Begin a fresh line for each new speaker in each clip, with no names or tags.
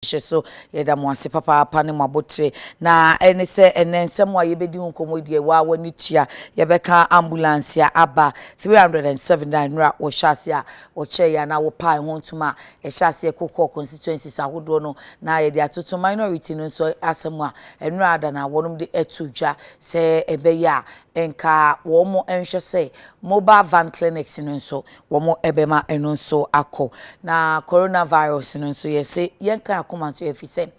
hyɛ so. Yɛda mo ase papaapa ne mo abotire. Na ɛne sɛ ɛnɛ nsɛm a yɛbɛdi ho nkɔmmɔ deɛ waa w'ani tua. Yɛbɛka ambulance a aba 379 nnora wɔhyɛ ase a wɔkyɛɛ yɛ anaa wɔpae ho ntom a ɛhyɛ aseɛ kokɔ constituencies ahodoɔ no na yɛde atoto minority no nso asɛm a nnora ada na wɔnom de ato dwa sɛ ɛbɛyɛ a nka wɔn nhwɛ sɛ mobile van clinics no nso wɔbɛma ɛno nso akɔ. Na coronavirus no nso yɛse yɛnka akoma nso yɛfi sɛ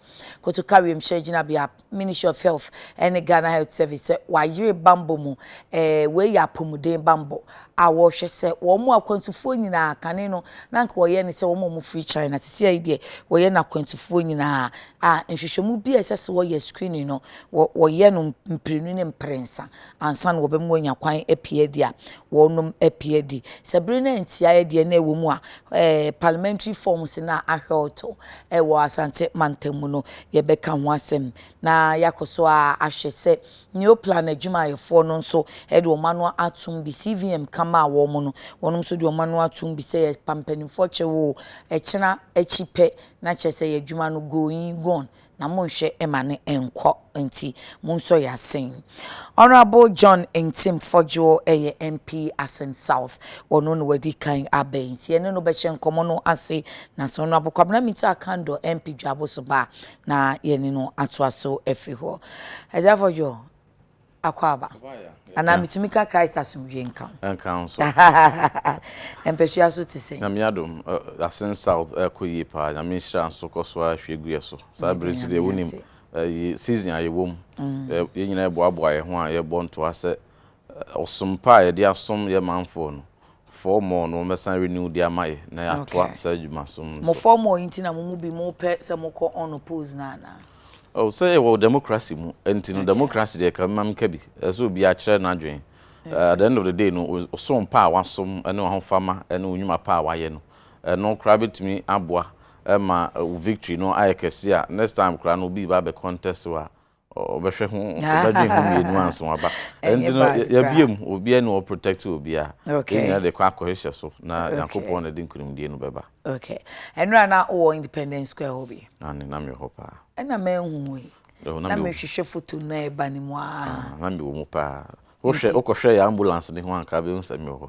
Kotoka Wiemhyɛn Gyinabea, Ministry of Health ne Ghana Health Service sɛ wɔayere bammɔ mu. Eh, wei yɛ apɔmuden bammɔ a wɔrehwɛ sɛ wɔn mu akwantufoɔ nyinaa kane no na anka wɔyɛ ne sɛ wɔn a wɔfiri China sisi ayi deɛ wɔyɛ no akwantufoɔ nyinaa a nhwehwɛmu bi a ɛsɛ sɛ wɔyɛ screening no wɔyɛ no mprenu ne mprɛnsa ansa na wɔbɛma wɔanya kwan apue adi a, wɔnom apue adi. Sɛ bere no antia deɛ na ɛwɔ mu a, eh, parliamentary forms no a ahwɛwto eh, wɔ Asante mantam mu no, yɛbɛka ho asɛm na yɛakɔ so a ahwɛ sɛ Neoplan adwumayɛfoɔ no nso eh, de wɔn ano atom bi. CVM ka maa wɔn no, wɔn nso de wɔn ano atom bi sɛ yɛpa mpanimfoɔ kyɛw o, ɛkyena akyi pɛ na kyerɛ sɛ yɛn adwuma no going, gone, na monhwɛ ma no nkɔ nti monsɔ yɛ asen. Honourable John Ntim Fodjour ɛyɛ MP Asen South ɔno na wadi kan aba yi nti yɛne no bɛhyɛ nkɔmɔ no ase na sɛ Honourable Kwabena Mintah Akandor MP Dwabo so ba a na yɛne no atoa so afiri hɔ. Agya Fodjour. Akwaaba. Anaa metumi ka Christ asomdwoe nka wo. Ɛnka wo nso. Mpasua so te sɛn? Nyame adom,
Asin South ɛrekɔ yie paa. Nyame nhyira nso kɔ so ara hwie gu yɛn so. Saa bere nso deɛ wonim season a yɛwɔ mu. Yɛn nyinaa yɛboaboa yɛn ho a yɛrebɔ ntoa sɛ ɔsom pa a yɛde asom yɛn manfoɔ no, Four more no wɔbɛsan renew de ama yɛ na yɛatoa saa adwuma so nso. Mo four more yi nti na mo
mu bi mo pɛ sɛ mo kɔ unopposed no anaa? Oh sɛ yɛ
wɔ democracy mu nti no democracy deɛ ka mma menka bi ɛsɛ obiara kyerɛ n'adwene at the end of the day no ɔsom pa a wasom ne w'ahofama ne wo nnwuma pa a wayɛ no ɛno koraa bɛtumi aboa ma wo victory no ayɛ kɛse a next time koraa no obi reba abɛ contest wo a ɔbɛhwɛ ho ɔbɛdwen ho mmienu ansa waba ɛnti no yɛbie mu obiara ni wɔ protect obiara okay yɛn nyinaa de kɔ akɔhyehyɛ so na Nyankopɔn na ɛde nkunimdie no bɛba okay ɛnura
na wɔ Independence Square hɔ bi na ne nam yɛ hɔ paa
ɛna mɛnhu yi
na mehwehwɛ foto no na ɛba ne mu aa na mewɔ mu
paa wohwɛ wokɔhwɛ yɛ ambulance ne ho anka bɛhu sɛ mewɔ hɔ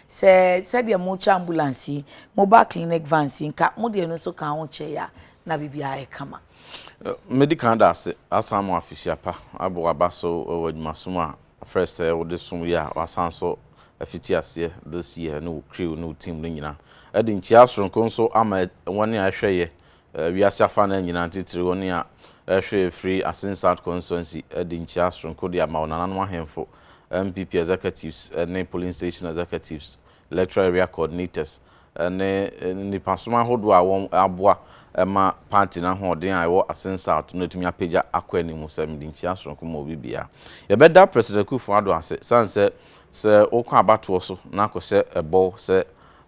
Sɛ sɛdeɛ mokyɛ ambulance yi, mobile clinic vans yi, nka mo deɛ no nso ka ho kyɛe a, na biribiara ayɛ kama. Medi kan
da ase asan mo afehyia pa abɔ aba so wɔ adwumasom a afrɛ sɛ wode som yɛ a wɔasan nso afiti aseɛ this year ne wo crew ne wo team no nyinaa. Ɛde nkyia soronko nso ama wɔn a ɛhwɛ yɛ Wiase afanan nyinaa ntitiriw wɔn a ɛhwɛ firi Asin South Constituency de nkyia soronko de ama wɔn nananom ahemfo, MPP executives ne polling station executives, electoral area coordinators ne nnipasom ahodoɔ a wɔn aboa ma party no ahoɔden a ɛwɔ Asin South no atumi apagya akɔ anim sɛ mede nkyia soronko ma obi biara. Yɛbɛda President Akufo-Addo ase sane sɛ sɛ wokɔ abatoɔ so na kɔhyɛ ɛbɔw sɛ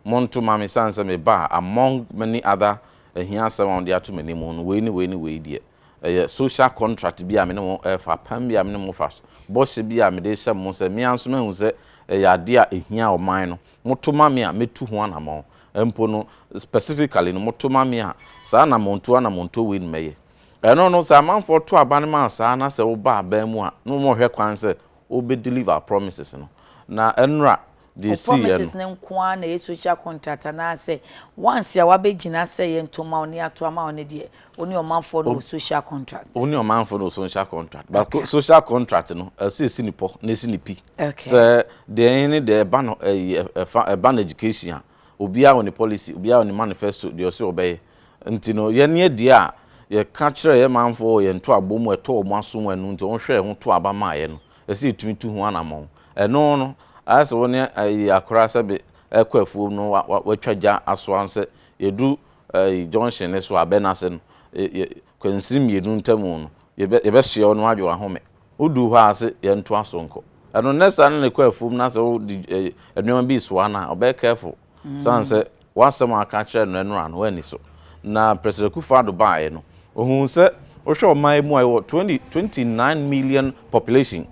Monto mma me esiane sɛ meba a, among many other ahiasɛm a wɔde ato m'anim no, wei ne wei ne wei deɛ, ɛyɛ social contract bi a me ne mo refa, apam bi a me ne mo fa, bɔhyɛ bi a mede rehyɛ mo sɛ me ara nso mahu sɛ ɛyɛ adeɛ a ɛhia ɔman no. Moto ma me a, mɛtu ho anammɔn. Mpo no, specifically no, moto ma me a, saa anammɔntuo anammɔntuo wei na mɛyɛ. Ɛno no, sɛ amanfoɔ to aba no ma saa na sɛ woba aban mu a, na wɔhwɛ kwan sɛ Ɔbɛ deliver promises no. Na ɛnora deɛ ɛsiiɛ no. Promises no nko
ara na ɛyɛ social contract anaa sɛ once a wabɛ gyina sɛ yɛ nto ma wo ne yɛ ato ama wo no deɛ wo ne ɔmanfoɔ no wɔ social contract. Wo ne ɔmanfoɔ no wɔ
social contract. But okay. social contract no ɛsɛ ɛsi ne pɔ na ɛsi ne pi. Okay. Sɛ
deɛ
ɛne deɛ ɛba no ɛyi ɛfa ɛba no education a. Obiara wɔ ne policy, obiara wɔ ne manifesto, deɛ ɔse ɔbɛyɛ. Nti no, yɛn yɛ deɛ a yɛka kyerɛɛ yɛn manfoɔ wɔ yɛn ntoabɔ mu a ɛtɔ wɔn aso mu ɛno nti wɔn hwɛɛ ho too aba maeɛ no, ɛsɛ yɛtumi tu ho anamɔn. Ɛno no, ayɛ sɛ wo ne ayi akora sɛbe ɛrekɔ afuom no wa wa watwa gya asoa no sɛ yɛduru ayi junction no so a, bɛn ase no, yɛ yɛ Kwansini mmienu ntamu no, yɛbɛ yɛbɛsoɛ wo na woadwe w'ahome. Woduu hɔ a, se yɛntoa so nkɔ. Ɛno nnɛ saa na ɛkɔ afuom na sɛ wode eh, nneɛma bi resoa no a, ɔbɛyɛ careful. Ɛsiane sɛ w'asɛm a woaka akyerɛ no ɛnora no, woanni so. Na President Akufo-Addo baeɛ no, ɔhuu sɛ wohwɛ ɔman yi mu a, yɛwɔ 20, 29 million population.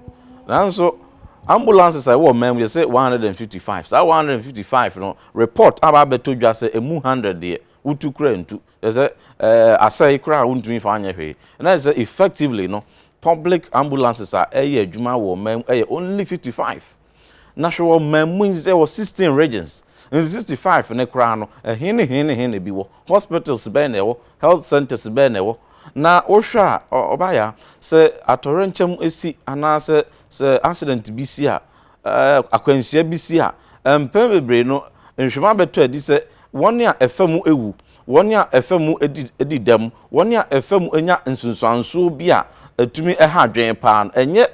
Nanso ambulances a ɛwɔ ɔman mu yɛ se 155. Saa 155 no, report aba abɛtɔ dwa sɛ ɛmu 100 deɛ, wotu koraa ntu. Kyerɛ sɛ, asɛe koraa a wontumi mfa nyɛ hwee. Na kyerɛ sɛ, effectively no, public ambulances a ɛyɛ adwuma wɔ ɔman mu yɛ only fifty five. Na hwɛ wɔ ɔman mu yi sɛ ɛwɔ sixteen regions. Nti sixty five no koraa no, ɛhe ne he ne he na ebi wɔ? Hospitals bɛn na ɛwɔ? Health centres bɛn na ɛwɔ? Na wohwɛ a, Ɔbayaa, sɛ atɔyerɛnkyɛm si anaasɛ sɛ accident bi si a, akwanhyia bi si a, mpɛn bebree no, nhwɛmu abɛtɔ adi sɛ wɔn a ɛfa mu awu, wɔn a ɛfa mu adi dɛm, wɔn a ɛfa mu anya nsunsuansoɔ bi a ɛtumi ha adwene paa no, ɛnyɛ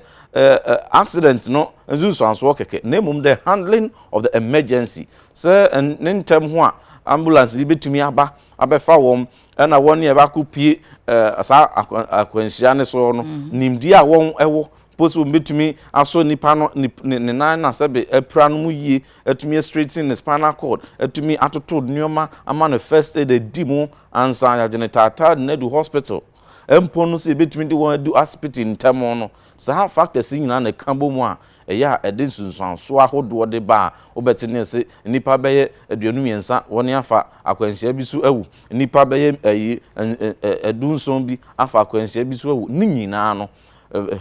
accident no nsunsuansoɔ kɛkɛ, na mmom the handling of the emergency, sɛ ne ntɛm ho a ambulance bi bɛtumi aba abɛfa wɔn, ɛna wɔn a ɛbɛakɔpie saa akwanhyia no soɔ no, nimdeɛ a wɔn wɔ Mpo sɛ wɔbɛtumi asɔ nipa no ne ne ne nan na sɛbe apira no mu yie, atumi astraighten ne spinal cord, atumi atoto nneɛma ama no first aid adi mu ansa yɛagye no taataade no adu hospital. Mpo no sɛ yɛbɛtumi de wɔn adu asipiti ntɛm no, saa factors yi nyinaa na ɛka bɔ mu a ɛyɛ a ɛde nsunsuansoɔ ahodoɔ de ba a wobɛte nne se nnipa bɛyɛ aduonu mmiɛnsa wɔn afa akwanhyia bi so awu, nnipa bɛyɛ ayi du nson bi afa akwanhyia bi so awu. Ne nyinaa no.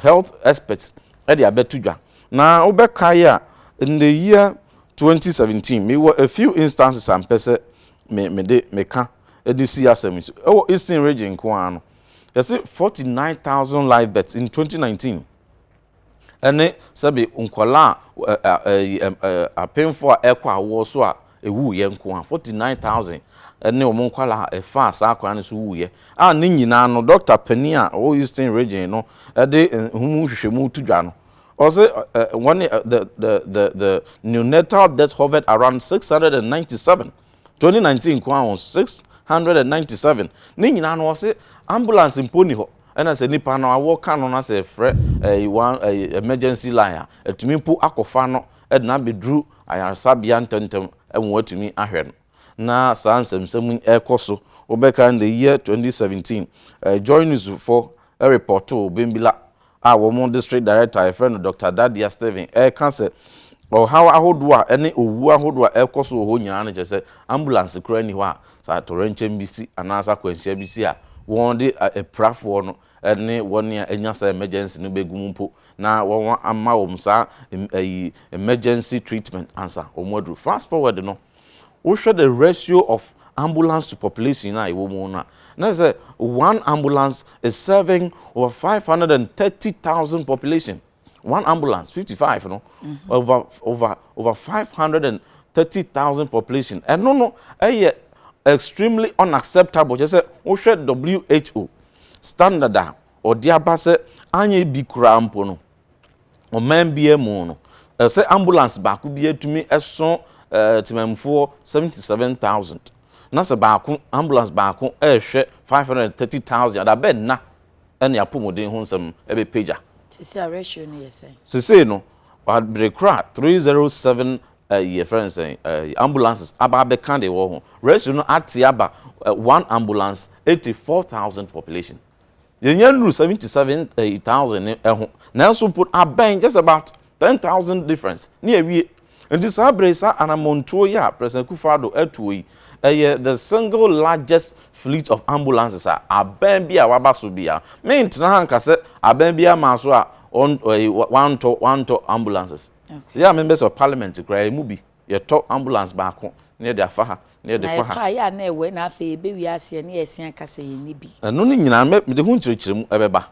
health experts de abɛto dwa. Na wobɛkae a, in the year 2017, mewɔ a few instances a mpɛ sɛ me mede meka de si asɛm yi so. Ɛwɔ Eastern region nko ara no, yɛse 49,000 live births in 2019 ɛne sɛbe nkwadaa a apemfo a ɛkɔ awoɔ so a Ɛwuiɛ nko a, 49,000 ne wɔn nkwadaa faa saa kwan no so wuiɛ, a ne nyinaa no, dɔkta panin a ɔwɔ Eastern Region no de ho mu nhwehwɛmu to dwa no, ɔse wɔn the the the the neonatal deaths hovered around 697, 2019 nko ara o, 697, ne nyinaa no ɔse ambulance mpo nni hɔ, ɛna sɛ nipa no awɔ ka no na sɛ ɛfrɛ ɛyi one ɛyi emergency line a, ɛtumi mpo akɔfa no na abɛduru ayaresabea ntɛmntɛm ma wɔatumi ahwɛ no. Na saa nsɛmnsɛm yi rekɔ so. Wobɛkae no the year 2017, Joy Newsfoɔ repɔtoo Bembila a wɔn district director a yɛfrɛ no Doctor Dadia Stephen reka sɛ ɔhaw ahodoɔ a ɛne owuo ahodoɔ a ɛrekɔ so wɔ hɔ nyinaa no kyerɛ sɛ ambulance koraa nni hɔ a sɛ atɔwrɛnkyɛm bi si anaasɛ akwanhyia bi si a wɔde apirafoɔ no ne wɔn a anya saa emergency no begu mu mpo na wɔama wɔn saa ɛyi emergency treatment ansa wɔn aduru. Fast forward no, wohwɛ the ratio of ambulance to population na ɛwɔ mu no a, na sɛ one ambulance is serving over five hundred and thirty thousand population. one ambulance fifty five no mhm. over over over five hundred and thirty thousand population ɛno no ɛyɛ extremely unacceptable kyerɛ sɛ wohwɛ who standard a ɔde aba sɛ anyɛ bi koraa mpo no ɔman biara mu no ɛsɛ ambulance baako bi atumi ɛso ɛɛ tìmɛnfoɔ seventy seven thousand na sɛ baako ambulance baako ɛrehwɛ five hundred and thirty thousand adabɛ nna. ne apɔmuden ho nsɛm bɛpagya. Seesei a ratio
no yɛ sɛn? Seesei no,
bere koro a three zero seven ɛyi yɛfrɛ no sɛn ɛyi ambulances aba abɛka deɛ ɛwɔ ho ratio no ate aba one ambulance eighty four thousand population. Yɛnya nnuru seventy seven ɛyi thousand ne ɛho nanso mpo abɛn just about Ten thousand difference ne awie. Nti saa bere yi saa anamɔntuo yi a President Akufo-Addo atuo yi, ɛyɛ the single largest fleet of ambulances a aban bi a waba so biara. Me ntena ha nka sɛ aban biara maa so a ɔn ɛyi wantɔ wantɔ ambulances. Yɛ a me bɛ sɛ parliament koraa yɛ mu bi yɛ tɔ ambulance baako na yɛ de afa ha na yɛ de kɔ ha. Na yɛ kae a na ɛwɛ na afei
yɛ bɛ wie aseɛ na yɛ ɛsen aka sɛ yɛ nni bi. Ɛno ne nyinaa me de
ho nkyerɛkyerɛmu ɛbɛba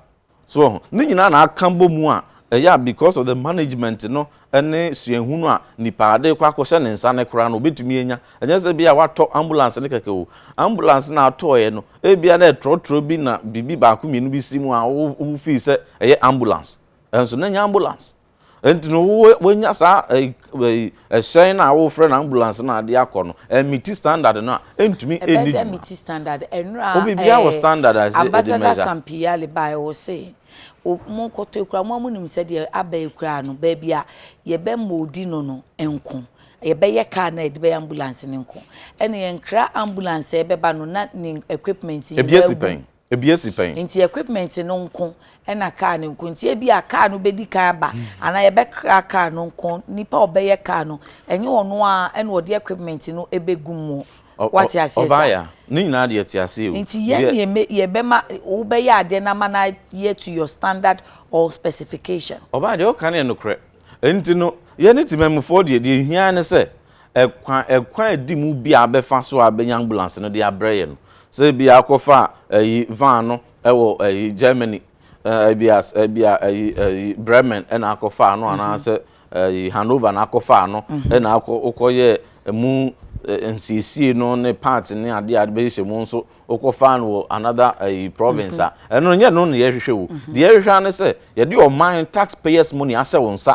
So woahu? Ne nyinaa na aka bɔ mu a ɛyɛ a because of the management no ne suahu no a nipa a ɛde kɔ akɔhyɛ ne nsa no koraa no obetumi anya. Ɛnyɛ sɛ ebia watɔ ambulance no kɛkɛ o. Ambulance no a atɔeɛ no, ebia na ɛtrɔtrɔ bi na biribi baako mmienu bi si mu a wo wo feel sɛ ɛyɛ ambulance. Ɛnso na ɛnyɛ ambulance. nti no wonya saa ɛhyɛn no a wofrɛ no ambulance no ade akɔ no ɛmiti standard no a ɛntumi ɛni dwuma ɛmiti
standard ɛnura obibia wɔ standard
a ɛsɛ ɛde mɛza sampiyale
bae wɔ se mo kɔtɔ ekura mo amunim sɛ deɛ aba ekura no baabi a yɛbɛ moodi no no nko yɛbɛyɛ kaa na yɛde bɛyɛ ambulance no nko ɛna yɛn kra ambulance ɛbɛba no na ne equipment nyinaa gu Ebi asi
pɛn. Nti equipment no
nko na car no nko nti ebia car no bedi kan aba anaa yɛbɛkra car no nko nipa a ɔbɛyɛ car no ɛnyɛ ɔno ara na ɔde equipment no begu mu wate aseɛ saa. Ɔbaaya ne nyinaa deɛ
te aseɛ o. Nti yɛn deɛ me
yɛbɛma wobɛyɛ adeɛ na ama no ayɛ to your standard or specification. Ɔbaaya deɛ ɔka no yɛ
nokorɛ nti no yɛne temanmufoɔ deɛ deɛ ehia ara ne sɛ Ɛkwan ɛkwan a ɛdi mu bi a abɛfa so a abɛnya ambulance no de abrɛ yɛ no sɛ ebi akɔ fa ɛyi van no ɛwɔ ɛyi Germany ɛɛ ebi a ebi a ɛyi ɛyi Bremen ɛna akɔ fa ano anaa sɛ ɛyi Hanover na akɔ fa ano ɛna akɔ okɔ yɛ ɛmu nsiesie no ne parts ne adeɛ a bɛyi hyɛ mu nso okɔ fa no wɔ another ɛyi province a ɛno nyɛ no na yɛhwehwɛ o deɛ yɛhwehwɛ ara ne sɛ yɛde ɔman tax payers money ahyɛ wo nsa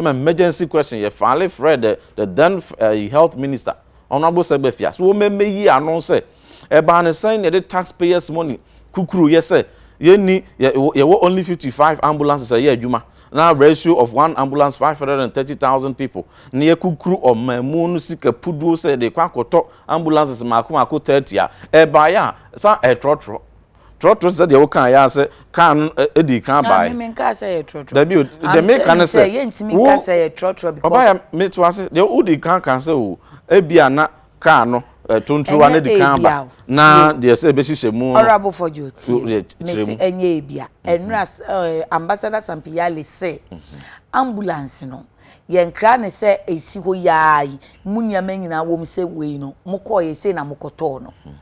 ma emergency question yɛ finally frɛɛ the the then ɛyi health minister honourable sɛgbɛfia so wɔn mmɛ yi ano sɛ ɛbaa ne sɛn na yɛde taxpayers money kukuru yɛ sɛ yɛnni yɛ yɛwɔ only fifty five ambulances ɛyɛ adwuma na ratio of one ambulance five hundred and thirty thousand people na yɛ kukuru ɔmanmu no sika puduo sɛ yɛde kɔ akɔtɔ ambulances mako mako thirty a ɛbaeɛ a sa ɛtrɔtrɔ Trɔtrɔ sɛ deɛ wo kaa yɛ sɛ kaa no ɛdi kan baa yi. Mimi kaa sɛ yɛ trɔtrɔ.
Dabi o deɛ mi ka
ne sɛ. Yɛ ntumi ka sɛ yɛ
trɔtrɔ because. Ɔbaa yɛ mi to ase
deɛ o di kan kan sɛ o ebi a na kaa no tontowa ne di kan ba na deɛ sɛ ebe hyehyɛ mu. Ɔrabo fɔjo ti
mesi ɛnyɛ ebi a ɛnura mhm. ambassador sampiyale sɛ mhm. ambulance no yɛn kra ne sɛ esi hɔ yaa yi mu nneɛma nyinaa wɔm sɛ wei no mo kɔɔ yɛ sei na mo kɔtɔɔ no. Mm -hmm.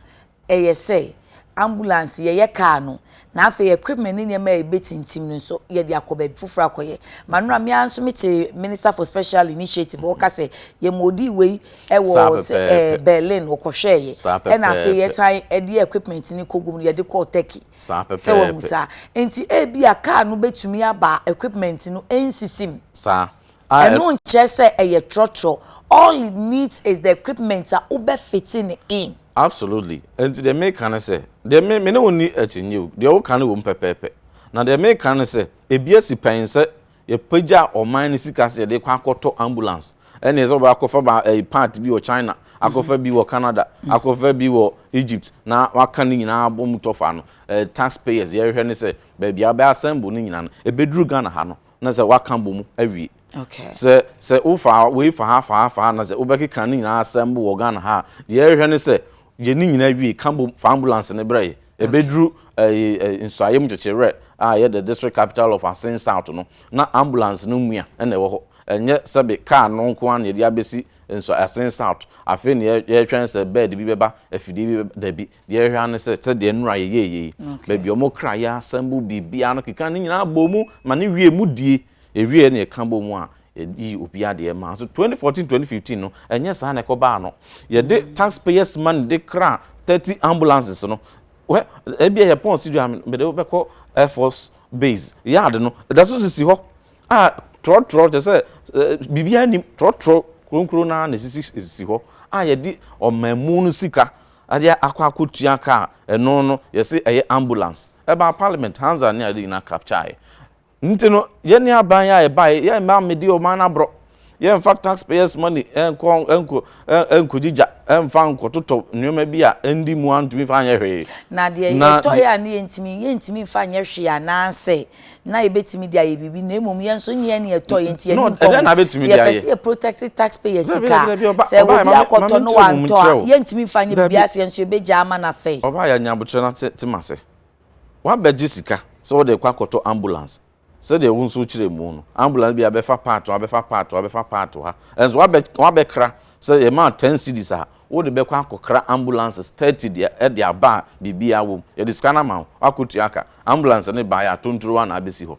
Ɛyɛ sɛ, ambulance, yɛyɛ kaa no, na afei equipment ne nneɛma a ebetintim no nso, yɛde akɔ baabi foforo akɔyɛ. M'anura, me ara nso mete Minister for Special Initiative a ɔka sɛ, yɛn ma odii wei wɔ Saa sɛ ɛɛ pɛpɛɛpɛ. Berlin, ɔkɔhwɛɛ yɛ, Saa ɛnna afei pɛpɛɛpɛ. yɛsan de equipment no kɔgu mu no, yɛde kɔɔ Turkey. Saa Sɛ wahu pɛpɛɛpɛ. saa? Enti ebia kaa no betumi aba a equipment no nsisi mu. Saa. a
ɛbɛma. Ɛno nkyerɛ
sɛ ɛyɛ trɔtrɔ, all it needs is the equipment a wobɛ fite no in. Absolutely, ɛnti
deɛ meka ne sɛ, deɛ me me ne wo nni akyinnye o, deɛ woka no wɔ mu pɛpɛɛpɛ, na deɛ meka ne sɛ, ɛbi asi pɛn sɛ yɛpagya ɔman no sika sɛ yɛde kɔ akɔtɔ ambulance, ɛnneɛ sɛ wobɛ akɔfa ba ɛyi part bi wɔ China, akɔfa bi wɔ Canada, akɔfa bi wɔ Egypt, na waka ne nyinaa abɔ mu tɔfa no, ɛɛ tax payers yɛrehwɛ ne sɛ baabi a wobɛ assemble ne nyinaa no, ɛbɛduru Ghana ha no, na sɛ waka abɔ mu awie. Okay. Sɛ
sɛ wofa
wei fa ha fa ha fa ha na sɛ wobɛkeka ne nyinaa asɛm bo wɔ Ghana ha deɛ ɛrehwɛ ne sɛ yɛ ne nyinaa wie ka bom fa ambulance ne brɛ yɛ. Ɛbɛduru nsuayɛ mu kyekyewerɛ a ɛyɛ the district capital of Asen South no na ambulance no mua ɛna ɛwɔ hɔ. Ɛnyɛ sɛbe kaa no nko ara na yɛde abɛsi nsu Asen South afei na yɛretwɛn sɛ bed bi bɛba afidie bi bɛba dabi. Deɛ ɛhwɛ ara ne sɛ sɛdeɛ nnora yɛyɛeɛ yi, baabi a wɔkra yɛn asɛm bɔ biribiara no keka ne nyinaa bɔ mu ma no wie mu die. Ɛwieeɛ na yɛka bɔ mu a, yɛyi obiara deɛ ɛma. Nanso 2014, 2015 no, ɛnyɛ saa na ɛkɔbaa no. Yɛde tax payers money de kraa 30 ambulances no. Well, ebia yɛ pɔn sidi a mede wobɛkɔ Air Force base yard no, ɛda so sisi hɔ a trɔtrɔ kyerɛ sɛ biribiara nim trɔtrɔ kronkron no ara na ɛsisi sisi hɔ a yɛde ɔmanmu no sika Ade a akɔ akɔtua ka a ɛno no yɛse ɛyɛ ambulance. Ɛbaa parliament, Hansard ne ade nyinaa captureeɛ. Nti no yɛne aban a ɛbaeɛ yɛmma mmedi ɔman no aborɔ. Yɛmfa taxpayers money nkɔ nkɔ nkɔgye gya mfa nkɔtotɔ nneɛma bi a ɛndi mu a ntumi mfa nyɛ hwee. Na deɛ yɛtɔeɛ
a ne yɛntumi yɛntumi mfa nyɛ hwee anaasɛ na yɛbɛtumi de ayɛ biribi na mmom yɛn nso nyɛ ne ɛtɔ yɛn nti yɛn nkɔ ho sɛ yɛpɛ sɛ
yɛ protect
taxpayer sika sɛ obi akɔtɔ no wantɔ a yɛntumi nfa nyɛ biribi ase yɛn nso yɛbɛgya ama no asɛe. ɔbaa yɛ nyabotrɛ no ate
te mase wabɛgye sika sɛ wode kɔ akɔtɔ ambulance sɛdeɛ wo nso kyerɛ mu no ambulance bi abɛfa part abɛfa part abɛfa part ha ɛnso wabɛkra sɛ yɛmaa ten cities a Wode bɛkɔ akɔkra ambulances thirty deɛ de aba a biribiara wom. Yɛde sika no ama wo, woakɔtua ka. Ambulance no baeɛ a, tonturowa na abɛsi hɔ.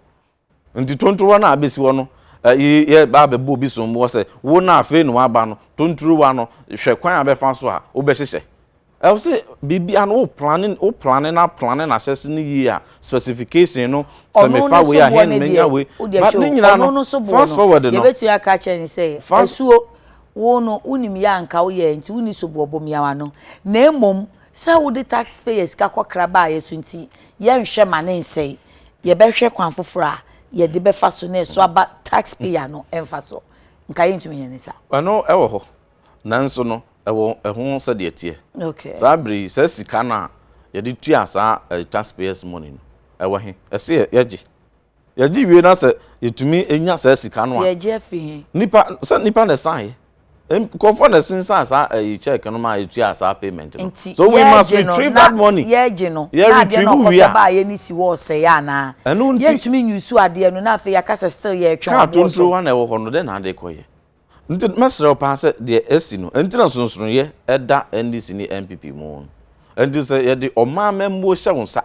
Nti tonturowa no a abɛsi hɔ no, ɛyi yɛ ba abɛbɔ obi somboɔ sɛ, wo no a afei na woaba no, tonturowa no, hwɛ kwan a bɛfa so a wobɛhyehyɛ. Ɛwɔ sɛ biribiara no wo plane, wo plane no aplane no ahyɛ ase no yie a, specification no, sɛ mefa wei a, he na mɛnya wei. But ne nyinaa no, fast forward no,
fast. Wo no, wonim yɛ a anka woyɛɛ nti wonni soboɔbo mmeaw ano, na mmom sɛ wode taxpayer sika kɔkra baeɛ so nti yɛnhwɛ ma no nsɛe, yɛbɛhwɛ kwan foforɔ a yɛde bɛfa so na ɛso aba taxpayer no mfasoɔ. Nka yɛntumi nyɛ no saa. Ɛno wɔ hɔ,
nanso no ɛwɔ ɛho sɛdeɛ ɛteɛ. Okay. Saa berɛ yi
saa sika
no a yɛde tua saa taxpayers money no ɛwɔ he? Ɛse yɛgye? Yɛgye wie na sɛ yɛtumi nya saa sika no a. Yɛgye afi he? Nipa
sɛ nipa na
ɛsan nkɔfoɔ na ɛsensan saa ɛyi eh, check no ma yɛtua saa payment no. Nti so we must retrieve
that
money. Yɛgye no na
adeɛ na ɔkɔtɔ
baa yɛ
ne si wɔ ɔsɛe anaa. Ɛno nti yɛntumi nyusu adeɛ no na afei yɛaka sɛ still yɛtwɛn ɔboɔ so. Kaa tonto wa na ɛwɔ hɔ
no dɛn na ade kɔyɛ. Nti mɛsrɛ wo paa sɛ deɛ asi no nti na nsonsonoeɛ da NDC ne NPP mu no, nti sɛ yɛde ɔman amammuo hyɛ wo nsa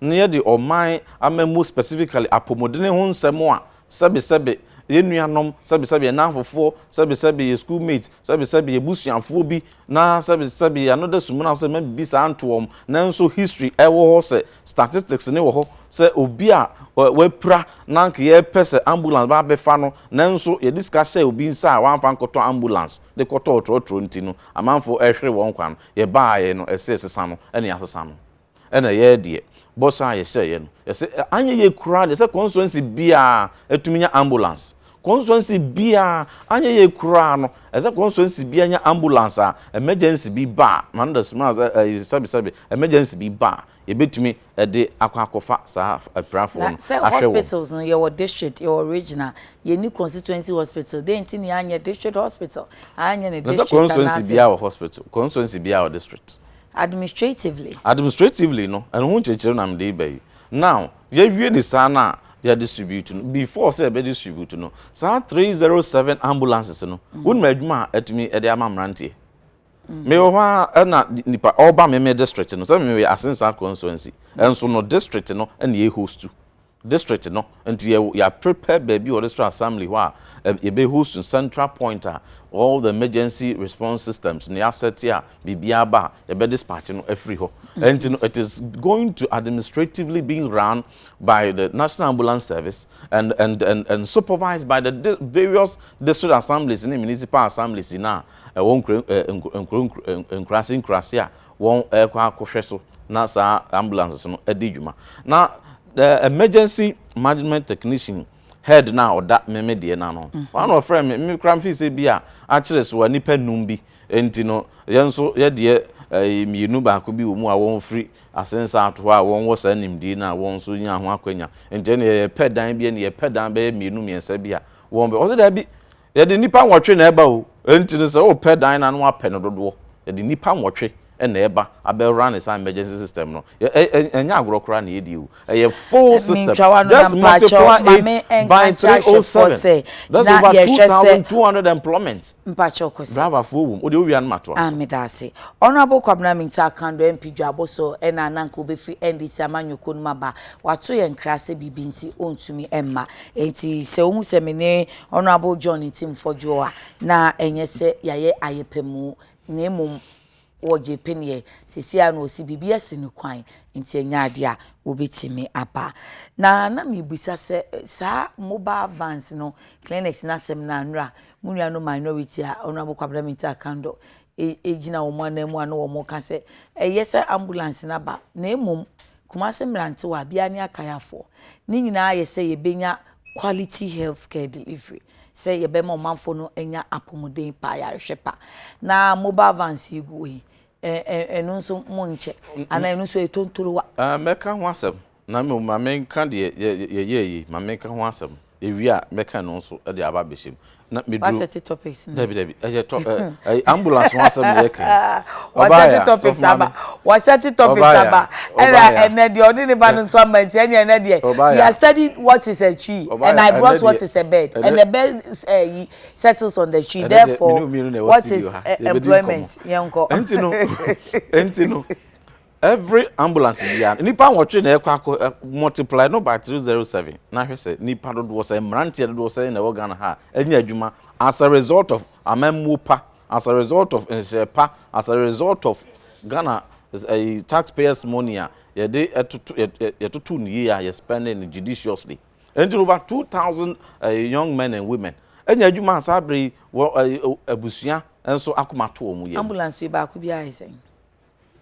na yɛde ɔman amammuo specifically apomudene ho nsɛm a, sɛbe sɛbe yɛn nuanom, sɛbe sɛbe yɛn nnamfofoɔ, sɛbe sɛbe yɛn school mates, sɛbe sɛbe yɛn abusuafoɔ bi Na sɛbi sɛbi ano da sumina so sɛ mma bibi saa nto wɔn nanso history wɔ hɔ sɛ statistics ne wɔ hɔ sɛ obi a wapira na nka yɛpɛ sɛ ambulance ba bɛfa no nanso yɛde sika hyɛɛ obi nsa a wamfa nkɔtɔ ambulance de kɔtɔɔ trɔtrɔ nti no amanfoɔ ɛhwere wɔn kwan yɛbaeɛ no ɛsɛ yɛsesa no ɛne yɛasesa no. Ɛna yɛɛ deɛ bɔ saa a yɛhyɛeɛ no yɛse anyɛ yie koraa deɛ sɛ constituency biaa ɛtumi nya ambulance constituency biaa anyɛ yie koraa no ɛsɛ constituency biaa nya ambulance a emergency bi ba a na no da suma sɛ ɛyi sɛbi sɛbi emergency bi ba a yɛbɛtumi ɛde akɔ akɔfa saa apirafoɔ no ahwɛ wɔn. Na sɛ hospitals no yɛwɔ
district yɛwɔ regional yɛnni constituency hospital dɛn nti na yɛanyɛ district hospital anyɛ no district anaasɛ. Na sɛ constituency biaa wɔ hospital
constituency biaa wɔ district. Administratively. Administratively no, ɛno ho nkyerɛkyerɛm na mede reba yi. Now, yɛawie ne saa no a, yɛadistribute no. Before sɛ yɛbɛdistribute no, saa 307 ambulances no, wonim adwuma a atumi de ama mmeranteɛ? Mewɔ hɔ ara na nipa ɔreba me me district no, sɛ meyɛ Asensa constituency, nso no district no na yɛhostu. District no, nti yɛ yɛ prepare baabi wɔ district assembly hɔ a yɛ bɛ host no central point a all the emergency response systems no yɛ asɛte a biribiara ba a yɛ bɛ dispatch no afiri hɔ. Nti no it is going to administratively being run by the National Ambulance Service and and and and supervised by the di various district assemblies ne municipal assemblies nyinaa a ɛwɔ nkura nkura nkura nkura nkuraase nkuraase a wɔrekɔ akɔhwɛ so na saa ambulances no adi dwuma. Na emergency management technician head no a ɔda me me deɛ no ano no, ɔno na ɔfrɛɛ me. Me koraa mefii sɛ bi a akyere so a nnipa nnum bi nti no, yɛn nso yɛ deɛ ɛyɛ mmienu baako bi wɔ mu a wɔfiri asensa ato hɔ a wɔwɔ saa nimdie no a wɔn nso nyaa ho akwanya. Nti ɛnneɛ yɛpɛ dan bi ɛnneɛ yɛpɛ dan bɛyɛ mmienu mmiɛnsa bi a wɔbɛ, ɔse daabi, Yɛde nnipa nwɔtwe na ɛba o, enti no sɛ wopɛ dan no a na woapɛ no dodoɔ. Yɛde nnipa nwɔtwe na ɛba abɛ run saa emergency system no. Ɛnyɛ agorɔ koraa na yɛredi o, ɛyɛ full system. Just multiply it by 307, that's over 2200 employment. Driver
foɔ wɔ mu, wodeɛ wowia
no ma toa so. Meda ase.
Honourable Kwabena Mintah Akandor MP Dwabo so na na nka ɔbɛfiri NDC amanyɔ kuo no mu aba, wato yɛn nkra sɛ biribi nti ɔntumi mma. Enti sɛ wohu sɛ me ne Honourable John Ntim Fodwoɔ a na ɛnyɛ sɛ yɛayɛ ayɛpamu na mmom wɔgyee peneɛ, seesei ara na ɔse biribi asi no kwan nti ɛnyɛ adeɛ a wɔbɛtumi aba. Na na mebisa sɛ saa mobile vans no, clinics no asɛm no a nnora mo nuanom minority a Honourable Kwabena Mintah Kandor e gyina wɔn ananmu a na wɔn ka sɛ ɛyɛ sɛ ambulance no aba na mmom Kumasi mmerantewa bia ne akayafoɔ ne nyinaa ayɛ sɛ yɛbɛnya quality health care delivery sɛ yɛbɛma ɔmanfoɔ no anya apomuden pa ayarehwɛ pa na mobile vans yi guo yi ɛno nso monkyɛ anaa ɛno nso ɛtontorowa. Mɛka
ho asɛm.
Na
mmom ma menka deɛ yɛyɛɛ yi,
ma
menka ho asɛm, ɛwie a mɛka ɛno nso de aba abɛhyɛ mu. Na meduru. Wasɛte topics no. Dabi
dabi, ɛyɛ tɔ
ɛyɛ ambulance ho asɛm na yɛka yi. Wasɛte topics
aba, wasɛte topics aba, ɛna ɛnɛ deɛ ɔde ne ba no nso ama nti ɛnyɛ ɛnɛ deɛ. He has studied what is a tree and I brought what is a bird and the bird ɛyi settles on the tree therefore what is employment yɛn kɔ. Ɛnti no,
ɛnti no. Every ambulance biara nnipa nwɔtwe na ɛkɔ akɔ eh, multiply no by 307 na hwɛ sɛ nnipa dodoɔ sɛ mmeranteɛ dodoɔ sɛ na ɛwɔ Ghana ha ɛnyɛ adwuma as a result of amammuo pa as a result of nhyɛ pa as a result of Ghana ɛyi eh, taxpayers money a yɛde ɛtoto yɛtoto no yie a yɛ spending no judiciously ɛnti over 2000 eh, young men and women ɛnyɛ adwuma saa bere yi wɔ abusua nso akoma to wɔn yɛ. ambulance yi baako bi ayɛ
sɛn.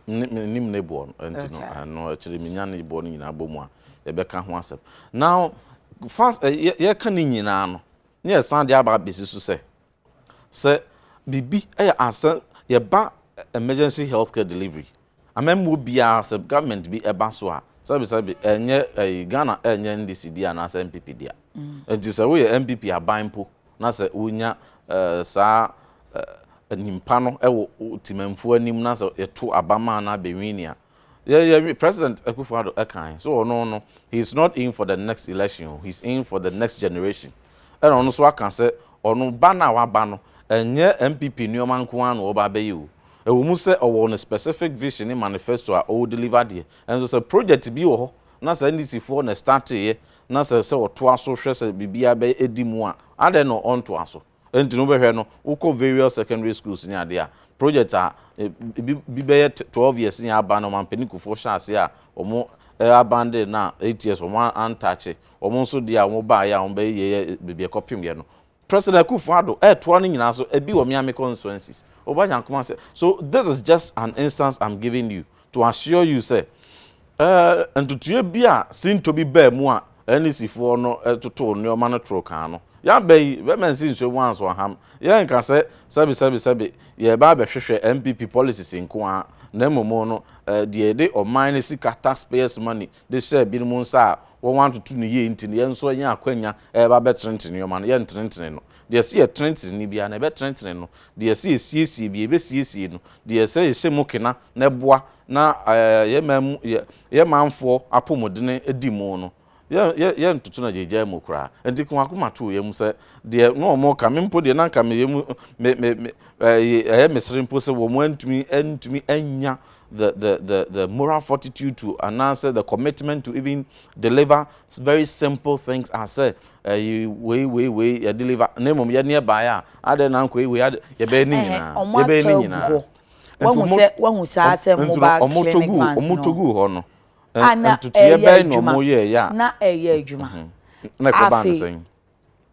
Mennim
ne boɔ no nti no ɛno akyire menya ne boɔ no nyinaa bɔ mu a yɛbɛka ho asɛm now fast yɛka ne nyinaa no ne yɛsan de aba abɛsi so sɛ sɛ biribi ɛyɛ asɛ yɛba emergency health care delivery amammuo biara sɛ government bi ɛba so a sɛbesɛbe ɛnyɛ ɛyi Ghana ɛnyɛ NDC di anaasɛ MPP di a nti sɛ woyɛ MPP aban mpo na sɛ wonya saa nyimpa no wɔ Tsemammfo anim na sɛ yɛto aba maa no abɛwini a, yɛyɛ President Akuffo Addo kae sɛ ɔno no he is not in for the next election o, he is in for the next generation. Ɛna ɔno nso aka sɛ ɔno ba no a waba no ɛnyɛ NPP nnoɔma nko ara na ɔreba abɛyɛ o. Ɛwɔ mu sɛ ɔwɔ ne specific vision ne manifesto a ɔredeliver deɛ, nso sɛ project bi wɔ hɔ na sɛ NDCfoɔ na ɛstarteeɛ na sɛ sɛ ɔtoa so hwɛ sɛ biribiara bɛdi mu a, adɛn na ɔntoa so? Ɛno nti no, wobɛhwɛ no, wokɔ various secondary schools ne adeɛ a, project a ebi bi bɛyɛ twelve years ne aban no, ɔmampanin Kufuor hyɛɛ aseɛ a wɔn abandon no a eight years wɔn antakye, wɔn nso deɛ a wɔbaeɛ a wɔbɛyɛeɛ baabi a ɛkɔpemyɛ no, President Akufo Addo retoa no nyinaa so ebi wɔ Miami constituencies. Oba Nyankoma sɛ, So this is just an instance I'm giving you to assure you sɛ eh, ntotoeɛ bi a sintɔ bi baa mu a NEC foɔ no totoo nneɛma no toro kaa no. Yɛaba yi, bɛma nsi nsuo mu anso aham. Yɛnka sɛ sɛbe sɛbe sɛbe yɛreba abɛhwehwɛ NPP policies nko ara, na mmom no eh, deɛ yɛde ɔman no sika, taxpayers money, de hyɛɛ binom nsa a wɔantoto no yie nti no, yɛn nso yɛanya akwanya reba abɛtenetene nneɛma no, yɛntenetene no. Deɛ ɛsɛ yɛtenetene no biara no, yɛbɛtenetene no. Deɛ ɛsɛ yɛsiesie biara, yɛbɛsiesie no. Deɛ ɛsɛ yɛhyɛ mu kena na ɛboa na yɛn man mu, yɛn manfoɔ apɔmudene di mu no, yɛntoto no agyaagyaa mu koraa. Enti ka w'akoma to wo yam sɛ, deɛ na wɔreka, me mpo deɛ na anka me yam, ɛyɛ me sere mpo sɛ wɔantumi annya the the the the moral fortitude to anaasɛ the commitment to even deliver very simple things as sɛ ɛyi wei wei wei yɛ deliver na mmom yɛ ne ɛbaeɛ a adɛ na nkɔ wei adɛ yɛbɛyɛ ne nyinaa yɛbɛyɛ ne nyinaa
wahu saa sɛ mobile clinic vans no ɔmotɔgu hɔ no
ntotoyɛ
bɛyɛ na ɔmoyɛɛyɛ
a na ɛyɛ adwuma afei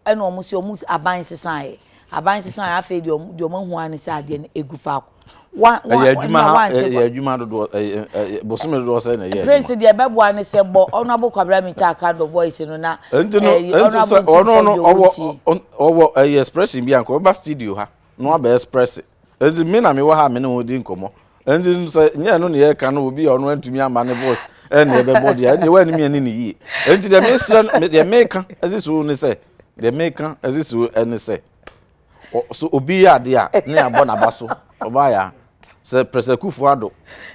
ɛna wɔn
si wɔn aban sesaeɛ aban sesaeɛ afei deɛ wɔn deɛ wɔn ahu ara ne sɛ adeɛ no egu faako wa wa ɛyɛ adwuma ɛna ha wante ɛyɛ kɔ
adwuma dodoɔ ɛyɛ ɛyɛ bosome dodoɔ sɛ na ɛyɛ adwuma prince deɛ ɛbɛboa ne sɛ
bɔ honourable kwabra mi taa ka dɔ voice no na nti no ɛyi nti no honourable sɛ nti ɔno sɛ
no deɛ ɔwɔ ɔwɔ tie ɔn- ɔwɔ ɛyɛ expression bi a nka ɔba studio ha no abɛ expresse nti me na mewɔ ha a me ne wɔn di nkɔmmɔ nti sɛ nyɛ ɛno ne yɛka no obi a ɔno antumi ama ne voice ɛne ɛbɛbɔ deɛ ɛne wɔn animi ani ne yie nti deɛ mesrɛ deɛ meka ɛsi so ne sɛ deɛ meka ɛsi so ɛne sɛ so obi yɛ adeɛ a ne abɔ n'aba so ɔbaa yɛ a sɛ pɛrɛsɛ kufu ado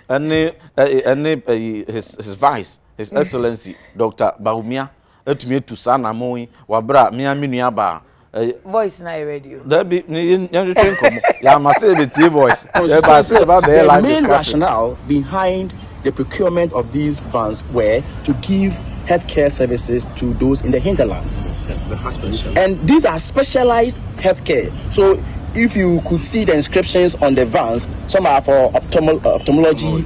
ɛne ɛne his his vice his excellency dr bahumia Atumi atu saa anammɔn yi wɔ abere a me ara me nua baa. Ɛyɛ. Voice na yɛ
ready o. Dabi, ne yɛn yɛn
hwehwɛ nkɔmɔ. Yɛama sɛ yɛbɛtie voice. Yɛbaa sɛ yɛbaa bɛyɛ live
discussion. The main rationale behind the procurement of these vans were to give health care services to those in the hinterlands. And these are specialized health care. So if you could see the inscriptions on the vans, some are for ophthalmo- ophthalmology,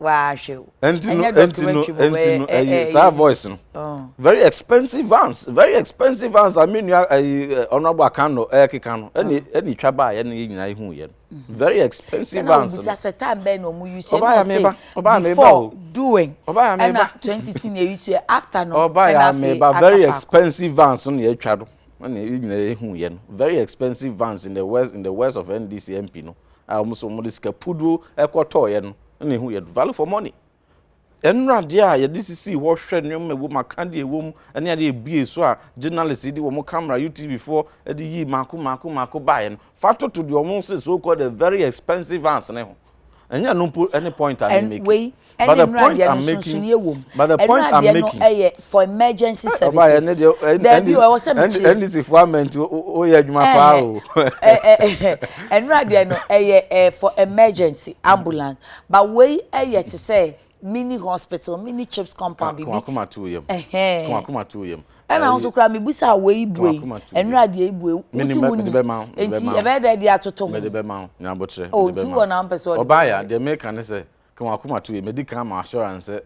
wahwe
o ɛnyɛ documentary mu bɛyɛ
ɛɛ ɛɛ ɛɛ saa voice no oh. very expensive vans very expensive vans a mi nua ɛyi honourable akano ɛkeka no ɛna ɛna itwa baa yɛ no yɛ nyinaa ihu yɛ no very expensive vans no ɛna obisa sɛ time bɛn na ɔmo
yi so ɛna ɔsɛ before doing ɛna
twenty ten yɛ yi so
after no ɛna afei akafa very
expensive vans no yɛ atwa do ɛna yɛ nyinaa ihu yɛ no very expensive vans in the west in the west of ndc mp no. a wɔn nso wɔde sika puduo ɛkɔtɔɔeɛ no na ehu yɛ value for money ɛnura adeɛ a yɛde sisi hɔ hwɛ nneɛma ɛwɔ mu aka deɛ ɛwɔ mu ɛne adeɛ ebie so a journalist yi de wɔn camera utv foɔ ɛde yi mako mako mako baeɛ no fa toto deɛ wɔn sɛ so called the very expensive vans ne ho ɛnyɛ no mpo ɛne point a ne make wei ɛne
nnuradeɛ no nsonsonoeɛ wɔ mu ɛnuradeɛ no ɛyɛ for emergency eh, services daabi ɛwɔ sɛ
mekyerɛ ndc fo ama nti woyɛ adwuma paa o ɛnuradeɛ
no ɛyɛ for emergency ambulance but wei ɛyɛ te sɛ mini hospital mini chips compound bibi kumakuma to yam
kumakuma to
yam ɛna ahosuo kura mi busa awo yi bue ɛnuradeɛ yi bue wusi wu ni nti ɛbɛyɛ dɛ ɛde atoto ho mɛde bɛ ma ho nyabotrɛ o nti wɔ na mpɛ sɛ ɔde ɔbaa yɛ deɛ mɛka
ne sɛ Ka wɔn akoma to yie. Madi kan ama assurance sɛ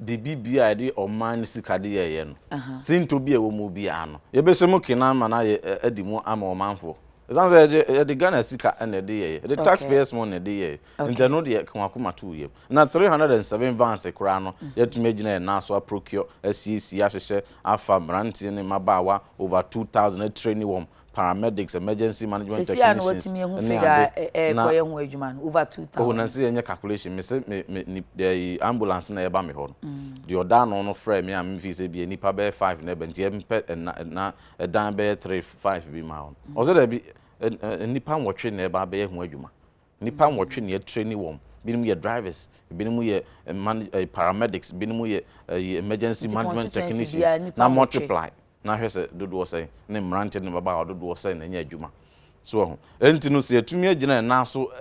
biribi biara a yɛde ɔman no sika de yɛɛyɛ no, sintɔ bi a ɛwɔ mu biara no, yɛbɛhyɛ mu kene ama no ayɛ adi mu ama ɔmanfoɔ. Ɛsiane sɛ yɛde yɛde Ghana sika na yɛde yɛɛyɛ, yɛde tax payers money na yɛde yɛɛyɛ, nti ɛno deɛ ka wɔn akoma to yam. Na three hundred and seven vans koraa no, yɛatumi agyina yɛn nan so a procure, asiesie, ahyehyɛ, afa mmeranteɛ ne mmabaawa over two thousand, a traini wɔn paramedics, emergency management technicians, ne ade. Sɛsi a na watumi ehu figure a ɛrekɔ yɛ ho adwuma
no, over two thousand. Oho, na nse yɛnyɛ calculation,
me se me, me, ni, ɛyi, ambulance na ɛreba me hɔ no, deɛ ɔda ano no frɛɛ me a me feel sɛ ebia nnipa bɛyɛ five na ɛba, nti ɛmpɛ, ɛna, ɛna, ɛdan bɛyɛ three, five bi maa wɔn. Ɔse daabi, ɛ, ɛ, nnipa nwɔtwe na ɛreba abɛyɛ ho adwuma. Nnipa nwɔtwe na yɛatraini wɔn. Binom yɛ drivers, binom yɛ manage, ɛyi, paramedics, binom yɛ, ɛyi, emergency management technicians, na multiply. na hwɛ sɛ dodoɔ sɛn ne mmeranteɛ ne mmabaawa dodoɔ sɛn na anya adwuma. So wahu? Ɛnti no sɛ yɛatumi agyina yɛn nan so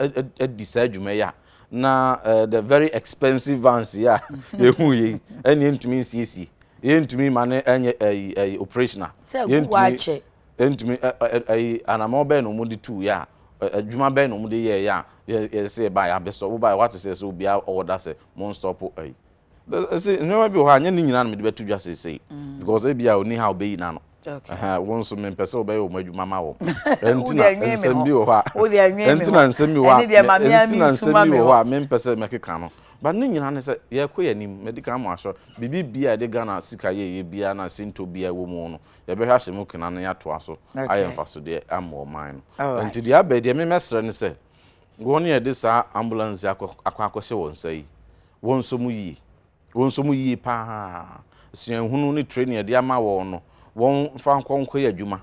adi saa adwuma yi a, na uh, the very expensive vans yi a yɛhu yei, ɛne yɛntumi nsiesie. Yɛntumi ma ne ɛnyɛ ɛyi ɛyi operational. Sɛ ɛgu hɔ akyɛ. Yɛntumi ɛyi anamɔ bɛn na wɔn de tu yɛ a adwuma bɛn na wɔn de yɛ yɛ a yɛsɛ yɛba yɛ abɛsɔ woba yɛ wate sɛ sɛ obiara ɔwɔ da sɛ mo nstɔpo ɛyi ɛsɛ nneɛma bi wɔ hɔ a nyɛ ne nyinaa na mede bɛto dwa seesei mm. because ebi a ɔni ha ɔbɛyi na no wɔn nso mempɛ sɛ wɔbɛyɛ wɔn adwuma ma wɔn ɛnti na nsɛm bi wɔ hɔ a ɛnti na nsɛm bi wɔ hɔ a ɛnti na nsɛm bi wɔ hɔ a mempɛ sɛ mɛkeka no ba ne nyinaa ne sɛ yɛkɔ yɛn anim mɛdi kan mo ahyɛ biribi bi a yɛde ghana sika yɛ yɛ bia na sento bia wɔ mu no yɛbɛhwɛ ahyɛ mu kena no yɛatoa so ayɛ mfasodeɛ ama ɔman no ɛnti deɛ abɛ deɛ memɛsrɛ ne sɛ wɔn yɛde saa ambulance akɔ akɔhyɛ wɔn nsa yi Wɔn nso mu yie. Wɔn nso mu yie pa ara. Suahunu ne training a yɛde ama wɔn no, wɔmfa nkɔ nkɔyɛ adwuma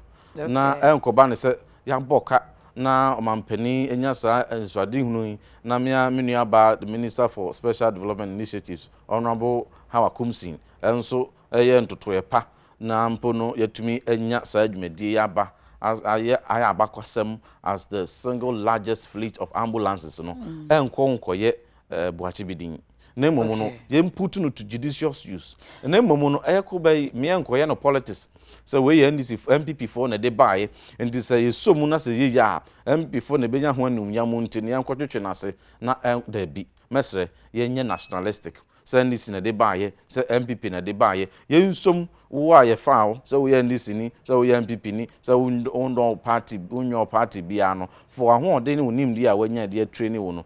na ɛnkɔba no sɛ yɛabɔ ka na ɔmampanin anya saa anisoadehunu yi na me ara me nuabaa the Minister for Special Development Initiatives, Honourable Hawa Kumsing, nso yɛ ntotoeɛ pa na mpo no yɛatumi anya saa dwumadie yi aba ayɛ ayɛ abakɔsɛm as the single largest fleet of ambulances no, ɛnkɔ nkɔyɛ eh, boakye bi din. Na mmom no, yɛn put no to judicious use. Na mmom no, ɛyɛ ko bɛyi, mmea nkɔyɛ no politics. Sɛ wei yɛ NDC, MPP foɔ na ɛde baeɛ. Nti sɛ yɛsɔ mu na sɛ yɛyɛ a, MPP foɔ na ɛbɛnya ho animuonyam nti no yɛnkɔtwetwe no ase na ɛn, daabi. Mɛsrɛ, yɛnyɛ nationalistic. Sɛ NDC na ɛde baeɛ, sɛ MPP na ɛde baeɛ, yɛnsɔ mu. Wo a yɛfaa wo sɛ woyɛ NDC ni, sɛ woyɛ MPP ni, sɛ wondɔ wo party, wonyɛ wo party biara no, fa w'ahoɔden ne wo nimdeɛ a woanya de atraini wo no,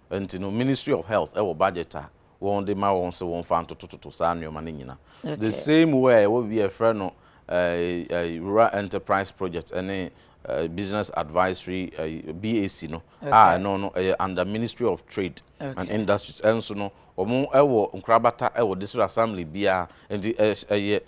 nti no ministry of health ɛwɔ budget a wɔn de ma wɔn sɛ wɔn fa ntotototo saa nnoɔma no nyina the same way a yɛwɔ bi a yɛfrɛ no rural enterprise project ɛne business advisory BAC no a ɛno no ɛyɛ under ministry of trade and industries ɛnso no wɔn ɛwɔ nkorabata ɛwɔ district assembly biara nti ɛyɛ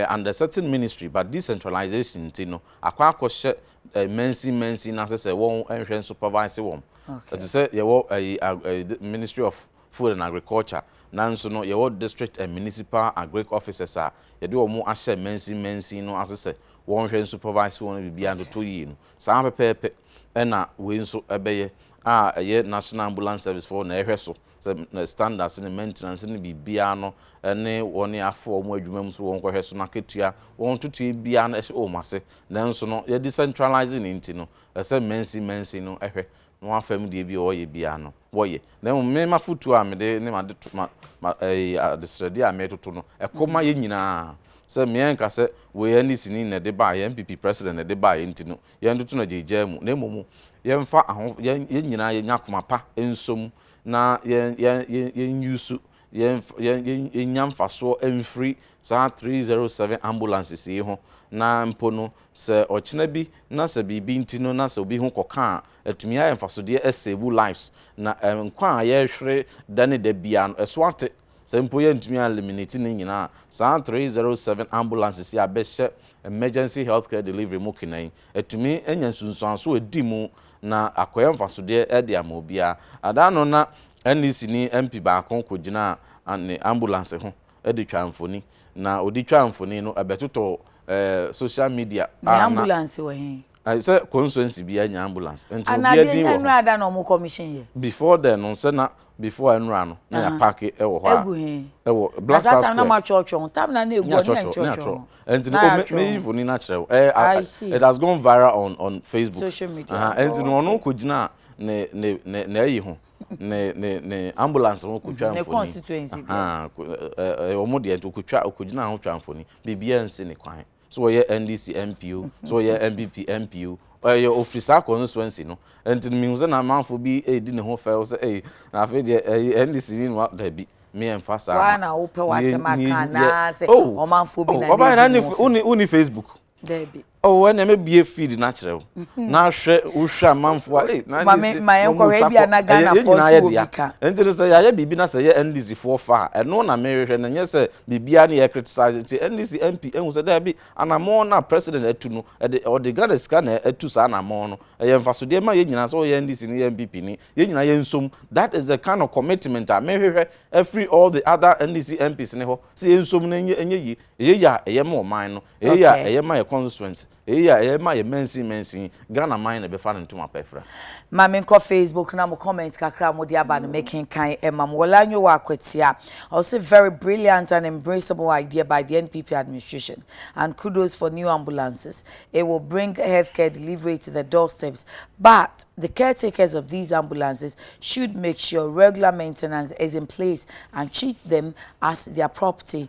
under certain ministry but decentralization nti no akɔ akɔhyɛ eh, mansin mansin na sɛ sɛ wɔn nhwɛ nso pavase wɔn okay. ɛte sɛ yɛwɔ ɛyi eh, ministry of food and agriculture nanso no yɛwɔ district and municipal agric officers a yɛde wɔn ahyɛ mansin mansin no ase sɛ wɔn hwɛ nso pavase wɔn biribiara ntoto yie no saa pɛpɛɛpɛ ɛna wei nso ɛbɛyɛ a ɛyɛ national ambulance service foɔ na ɛhwɛ so sɛ ne standards ne maintenance ne biribiara no ne wɔn afa wɔn adwuma mu so wɔn kɔhwɛ so n'akatua wɔn ntotoeɛ biara no ɛhyɛ wɔn ase nanso no yɛ decentralizing ne nti no ɛsɛ mansin mansin no ɛhwɛ na wɔn afam deɛ bi a wɔyɛ biara no wɔyɛ na mmom me mafotuo a mede ne ma de ma ma ɛɛ adesrɛdeɛ a metoto no ɛkɔ ma yɛn nyinaa sɛ mmea nka sɛ wei NDC ni na ɛde baayɛ NPP president na ɛde baayɛ nti no yɛntoto no agyaagyaa mu, na mmom yɛmfa aho, yɛn yɛn nyinaa yɛnya akoma pa nso mu, na yɛn yɛn yɛn yɛn use yɛn yɛn yɛn yɛnya mfasoɔ mfiri saa 307 ambulances yi ho, na mpo no sɛ ɔkyena bi na sɛ biribi nti no na sɛ obi ho kɔka a, atumi ayɛ mfasodeɛ asave lives, na nkwa a yɛrehwere da ne da biara no ɛso ate. Sɛ mpo yɛantumi an'eliminate' ne nyinaa a, saa 307 ambulances yi a bɛhyɛ emergency healthcare delivery mu kena yi atumi anya nsunsuanso a edi mu na akɔyɛ mfasodeɛ de ama obiara. Ada ano na NEC ni MP baako kɔgyinaa ne ambulance ho de twaa mfoni. Na ɔde twaa mfoni no ɛbɛtotɔɔ social media a na. Ne ambulance wɔ he?
Ayɛ sɛ consuency
biaa nya ambulance nti obiaa din wɔ ho. Anaa deɛ nnura da
na ɔmo commission yɛ. Before then no sɛ na
before a nnura no na yɛ parke wɔ hɔ a. Egu he? Ɛwɔ
black star square.
Na saa time na mo atwɔtwɔ ho time
na na egu hɔ ne yɛn twɔtwɔ ho. Ɛnti no o me
yi mfoni no akyerɛ wo. I see. It has gone viral on on Facebook. Social media. Aha ɛnti
no ɔno kɔ gyina
ne ne ne ne ayi ho ne ne ne ambulance ho kɔ twa mfoni. Ne constituency
deɛ.
Aha ɛɛ ɔmo deɛ nti ɔkɔ twa ɔkɔ gyina ho twa mfoni biribiaa nsi ne kwan. So ɔyɛ NDC MP o, so ɔyɛ NPP MP o, ɔyɛ ofiri saa constituency no. Nti no mehu sɛ na amanfoɔ bi redi ne ho fɛw sɛ ei na afei deɛ ɛyi NDC ni no dabi me yɛn fa saa. Waa na wopɛ w'asɛm
aka anaa sɛ oh, ɔmanfoɔ bi oh, na ɔbaa na ne woni woni
Facebook. Dabi. Oh,
ɛnna ɛmɛ bie
feed na kyerɛ o. Mhm. Na ahwɛ wohwɛ amanfoɔ a ei na NDC ma yɛn
kɔhwɛ bi a na Ghanafoɔ nso wɔ bi ka. Nti no sɛ yɛayɛ
biribi na sɛ yɛ NDC foɔ fa a ɛno na mehwehwɛ na nyɛ sɛ Biribiara ne yɛ criticize nti NDC MP ahu sɛ daabi anamɔn no a president atu no ɛde ɔde Ghana sika na atu saa anamɔn no. Ɛyɛ mfasodeɛ ma yɛn nyinaa sɛ woyɛ NDC ni yɛ NPP ni yɛn nyinaa yɛn nsom that is the kind of commitment a me hwehwɛ afiri all the other NDC MPs ne hɔ sɛ yɛn nsom na ɛnyɛ ɛnyɛ yie ɛyɛ yie a ɛyɛ ma ɔman no ɛyɛ yie a ɛyɛ ma yɛ constituency. Eii a ɛyɛ ma yɛ mansin mansin, Ghana man na ɛbɛfa no ntoma pa afira. Ma me nkɔ
Facebook na mo comment kakra a mo de aba no me kenkan ɛma mo. Wɔla Nyowa Akwatia, ɔse very brilliant and embraceable idea by the NPP administration and kudos for new ambulances, it will bring healthcare delivery to the doorsteps but the caretakers of these ambulances should make sure regular maintenance is in place and treat them as their property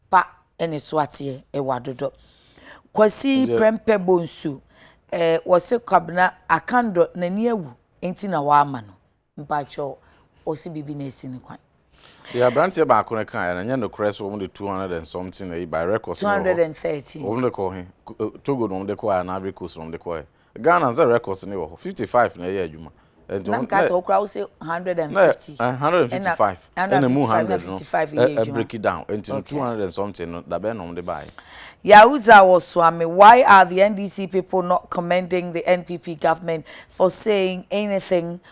pa ne so ateɛ ɛwɔ adodɔ kwasi prɛmpɛ bɔ nsu ɛɛ wɔsi kwabena akandɔ n'ani awu nti na wama no mpakyɛw wɔsi bibi na esi ne kwan. deɛ aberanteɛ
baako no kaeɛ no nyɛ nokorɛ sɛ wɔn de two hundred and something ayi by records no wɔ hɔ 213 wɔn
de kɔ he
Ku- eh, togo na wɔn de kɔɛ anaa ivory coast na wɔn de kɔɛ Ghana nsɛ records no wɔ hɔ fifty five na ɛyɛ adwuma. Ɛnti wɔn na nka sɛ ɔkura
wosɛ hundred
and fifty. Na hundred and fifty five ɛna mu hundred no ɛ break down ɛnti no two hundred and something no dabɛn na wɔn de baayɛ. Yahuza
Wosuame, Why are the NDC people not commending the NPP government for saying anything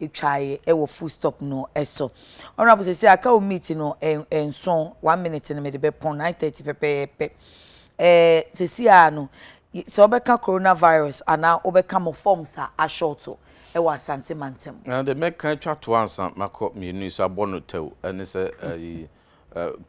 Etwae wɔ full stop no so. Honourable sɛsɛ aka wo meat no nson one minute no mede bɛpɔn nine thirty pɛpɛɛpɛ. Ɛɛ sɛsi a no sɛ wobɛka coronavirus anaa wobɛka mo forms a ashorto wɔ Asante mantam. Na deɛ mɛka atwa
toɔ ansa makɔ mmienu yi so abɔ no tɛw ne sɛ ɛyi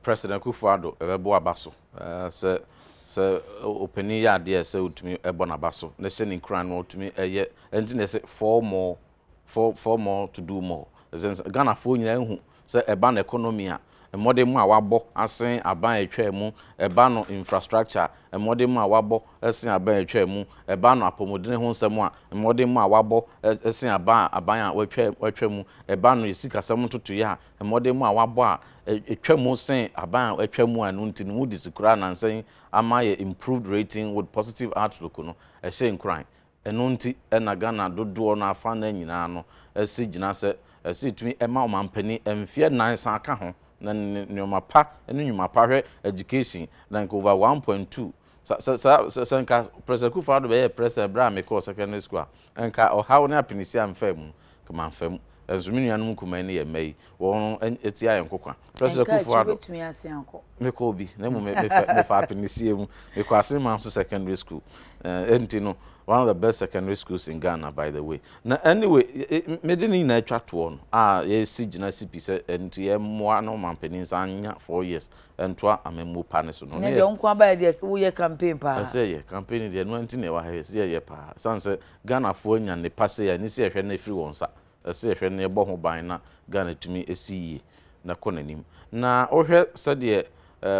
President Akuffo Addo bɛbɔ aba so sɛ sɛ ɔpanin yɛ adeɛ a ɛsɛ ɔtumi bɔ n'aba so na ɛhyɛ ne nkuran na ɔtumi yɛ ɛnti na ɛsɛ four more for for more to do more ɛsɛ sɛ Ghanafoɔ nyinaa hu sɛ ɛba no economy a mmɔdenmɔ a wɔabɔ asen aban a ɛtwaa mu, ɛba no infrastructure mmɔdenmɔ a wɔabɔ asen aban a ɛtwaa mu, ɛba no apɔmudene ho nsɛm a mmɔdenmɔ a wɔabɔ asen aban a aban a wɔatwa wɔatwa mu, ɛba no esikasɛm ntotoeɛ a mmɔdenmɔ a wɔabɔ a ɛtwa mu sen aban a wɔatwa mu a ɛno nti no Moody's koraa nansa yi ama ayɛ improved rating with positive outlook no ɛhyɛ nkuran Ɛno nti na Ghana dodoɔ no afanna nyinaa no si gyina sɛ ɛsɛ ɛtumi ma ɔmanpanin mfeɛ nnan san ka ho na nnoɔma pa ne nnwuma pa hwɛ education like over one point two sɛ sɛ sɛ sɛ nka Prɛsɛ Kufa Ado bɛyɛɛ Prɛsɛ berɛ a mekɔɔ secondary school a nka ɔhaw ne apenisi amfaa mu kama amfa mu nso me nuanom nkumaa yi ne yɛn mma yi Wɔn ati ayɛ nkokwa. Presley Ɛnka akyi Kufuor-Addo. wobɛtumi asen akɔ.
Mekɔɔ bi, na mmom me,
me, fɛ- me faa apinisie mu. Mekɔɔ Asenmanso Secondary School. Eh, enti no, one of the best secondary schools in Ghana, by the way. Na anyway, eh, eh, mede ne nyinaa twa toɔ no, a yɛsi gyina si pi sɛ ɛnti yɛmmoa na ɔmampanin san nya four years ntoa amammuo pa no so no. Ne deɛ wo nko ara baeɛ deɛ
woyɛ campaign paa. Ɛsɛ yɛ campaign no deɛ
ɛno nti na ɛwɔ ha yɛ sɛ yɛyɛ paa san sɛ Ghanafoɔ anya nnepa sei a ɛne sɛ yɛhwɛ no afiri wɔn nsa Ɛsɛ sɛ yɛhwɛ na yɛbɔ ho ban na Ghana tumi si yie na ɛkɔ n'anim. Na wohwɛ sɛdeɛ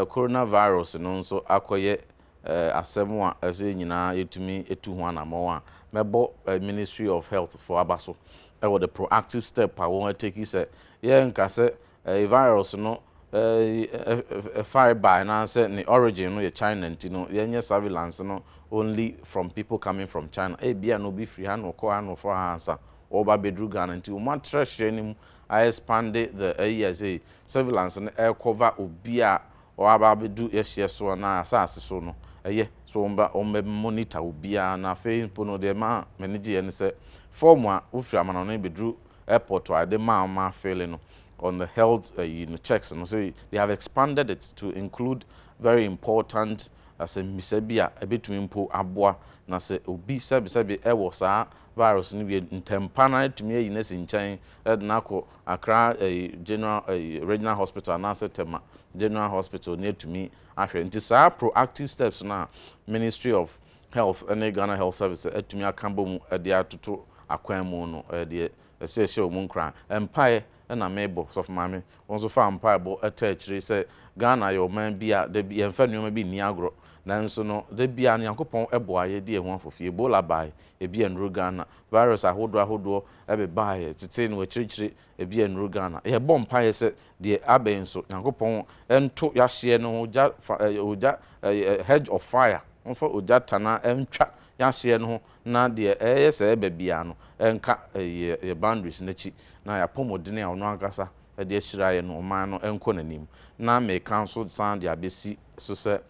Corona virus no nso akɔyɛ asɛm a ɛsɛ sɛ yɛn nyinaa yɛtumi tu ho anammɔn a, mɛbɔ Ministry of Health foɔ aba so wɔ the proactive step a wɔateki sɛ yɛnka sɛ eh, virus no eh, eh, fare bae anaasɛ ne origin no yɛ China nti no, yɛnyɛ surveillance no only from people coming from China. Ebia na obi firi ha na ɔkɔɔ ha na ɔfɔɔ ha ansa ɔreba abɛduru Ghana nti wɔn atrɛ hyerɛ no mu a expande the ayi a ɛsɛ surveillance no ɛrekɔva obi a ɔaba abɛdu yɛhyeɛ so anaa asase so no ɛyɛ so wɔn ba wɔn bɛ monitor obiara na afei mpo no deɛ ma m'ani gyeeɛ ne sɛ fɔɔm a wofiri amanɔne bɛduru airport a yɛde maa wɔn afeele no on the health ayi no checks no sɛ they have expanded it to include very important asɛmmisa bi a ɛbɛtumi mpo aboa na sɛ obi sɛbesɛbe ɛwɔ saa virus no bi ntɛmpa no atumi ayi no asi nkyɛn ɛde no akɔ Accra ayi general ayi regional hospital anaasɛ Tema general hospital ne atumi ahwɛ nti saa proactive steps no a ministry of Health ne Ghana Health Service atumi aka bɔ mu de atoto akwan mu no deɛ ɛsɛ ɛhyɛ wɔn nkuran. Mpaeɛ na mebɔ, Sɔfo Maame, wo nso fa mpaebɔ taa akyire sɛ Ghana yɛ ɔman bi a da bi yɛmfa nneɛma bi nni agorɔ, nanso no da biara no Nyankopɔn boa yɛ de ɛho afofie. Ebola baeɛ, ebi annuru Ghana, virus ahodoɔ ahodoɔ bebaaeɛ, tetee no akyirikyiri, Ebia nnuru Ghana. Yɛbɔ mpaeɛ sɛ deɛ aba yi nso, Nyankopɔn nto y'ahyeɛ no ho gya fa ɛɛ ogya ɛɛ hedge of fire, ɔmfa ogya tanaa ntwa y'ahyeɛ no ho na deɛ ɛɛyɛ sɛ ɛɛba biara no ɛnka ɛɛ yɛ boundaries no akyi na y'apɔmuden a ɔno ankasa de ahyira yɛn ɔman no ɛnkɔ n'anim. Na meka nso san de abɛsi so sɛ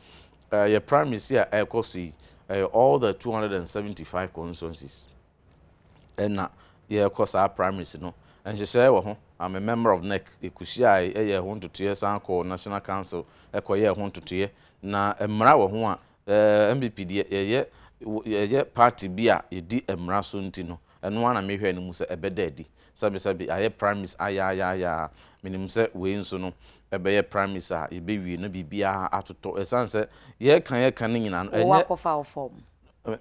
ɛɛ yɛ primaries yi a ɛɛkɔ so yi ɛyɛ all the two hundred and seventy five constituencies. na yɛrekɔ saa primaries no, nhyehyɛe wɔ ho a me member of NEC kohyiae yɛɛ ho ntotoeɛ san kɔɔ National Council kɔyɛɛ ho ntotoeɛ. Na mmara wɔ ho a NPP deɛ yɛyɛ yɛyɛ party bi a yɛdi mmara so nti no, ɛno ara na mehwɛɛ no mu sɛ ɛbɛda adi. Sɛbesɛbe ayɛ primaries ayaayaayaayaa, menim sɛ wei nso no ɛbɛyɛ primaries a yɛbɛwie na biribiara atotɔ. Ɛsiane sɛ yɛreka yɛreka no nyinaa no, ɛnyɛ. Wɔakɔfa wo form.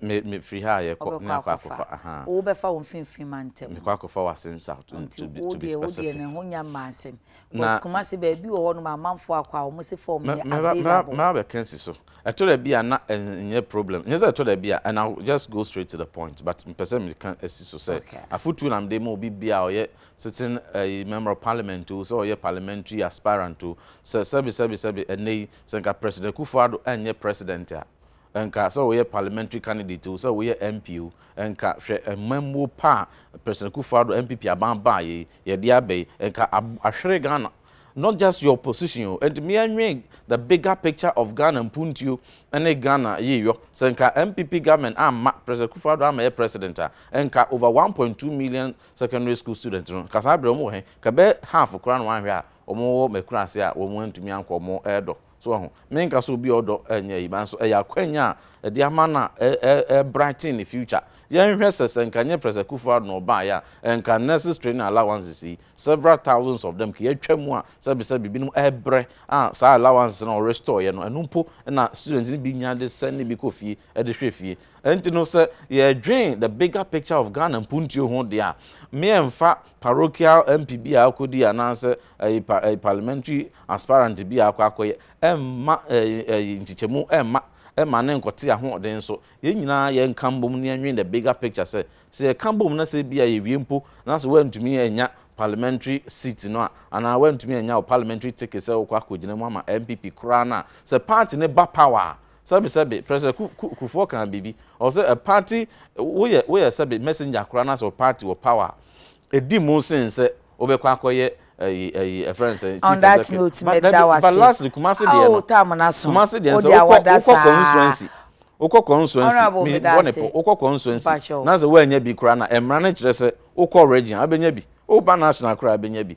Me me firi
ha a yɛ kɔ ne akɔ akɔfa ahaa. Wo bɛ fa wo
mfinfin ma ntɛm. Me kɔ akɔfa w'ase nsa to be specific.
Nti wo deɛ wo deɛ ne ho nya mmaa nsɛm.
Bɔs kumase bɛ bi wɔ hɔ nom amanfoɔ akɔ a wɔn se form yɛ available. Mɛ abɛ kɛnsi so.
Ɛtɔ da bi a na ɛnyɛ problem nyɛ sɛ ɛtɔ da bi a and I will just go straight to the point but mpɛ sɛ me ka si so sɛ afutuo na me de ma obi biara ɔyɛ sitting ɛyi member of parliament o sɛ ɔyɛ parliamentary aspirant o sɛ sɛbi sɛbi sɛbi ɛnɛ yi sɛ nka president Kufuor Addo ɛnyɛ president a ɛnka sɛ woyɛ parliamentary candidate o, sɛ woyɛ MP o, ɛnka hwɛ mmamuo pa a President Akuffo Addo NPP aban baeɛ yi, yɛde aba yi, ɛnka ab ahwere Ghana. Not just your position o, ɛnti me ɛnwen the bigger picture of Ghana mpuntuo ne Ghana yiyɔ. Sɛ nka NPP government amma President Akuffo Addo ammɛyɛ President a, ɛnka over one point two million secondary school students no, nka saa berɛ wɔn wɔ he? Nka ɛbɛyɛ half koraa na wɔanhwɛ a wɔn wɔ Makurase a wɔn antumi ankɔ wɔn ɛɛdɔ. So wahu? Menka sɛ obi a ɔdɔ nyɛ eyi, nanso ɛyɛ akwanya a ɛde ama no a ɛrebrighten ne future. Yɛnhwɛ sɛ sɛ nka ɛnyɛ Pres Akufo-Addo na ɔbaeɛ a, ɛnka nurses training allowances yi, several thousands of them, kea atwa mu a sɛbesɛbe ebinom rebrɛ a saa allowances no a ɔrestoreɛ no, ɛno mpo na students no bi nya de sɛn ne bi kɔ fie de hwɛ fie. Ɛnti no sɛ yɛredwen the bigger picture of Ghana mpuntuo ho deɛ a, me ɛmfa Parochial MP bi a ɔkɔdii anaasɛ ɛyi pa ɛyi parliamentary aspirant bi a akɔ akɔyɛ ɛmma ɛyi ɛyi nkyekyɛmu ɛmma ɛmma ne nkɔte ahoɔden so. Yɛn nyinaa yɛnka mbom na yɛnwen the bigger picture sɛ, sɛ yɛka bom na sɛ ebia yɛwie mpo na sɛ woantumi annya parliamentary seat no a, anaa woantumi annya wo parliamentary ticket sɛ wokɔ akɔgyina mu ama NPP koraa no a, sɛ party no ba power a, Sɛbe sɛbe, President Ku Kufuor kaa biribi, ɔwɔ sɛ party, woyɛ woyɛ sɛbe messenger koraa na sɛ wo party wɔ power a, ɛdi mu sen sɛ wobɛkɔ akɔyɛ ɛyi ɛyi ɛfrɛ no sɛn, chief executive,
but dabi, but lastly Kumasi deɛ
no, Kumasi deɛ no sɛ wokɔ wokɔ constituency, wokɔ constituency, me bɔ ne po, wokɔ constituency na sɛ woannya bi koraa na ɛmmara no kyerɛ sɛ wokɔ region a wobɛnya bi, woba national koraa a wobɛnya bi,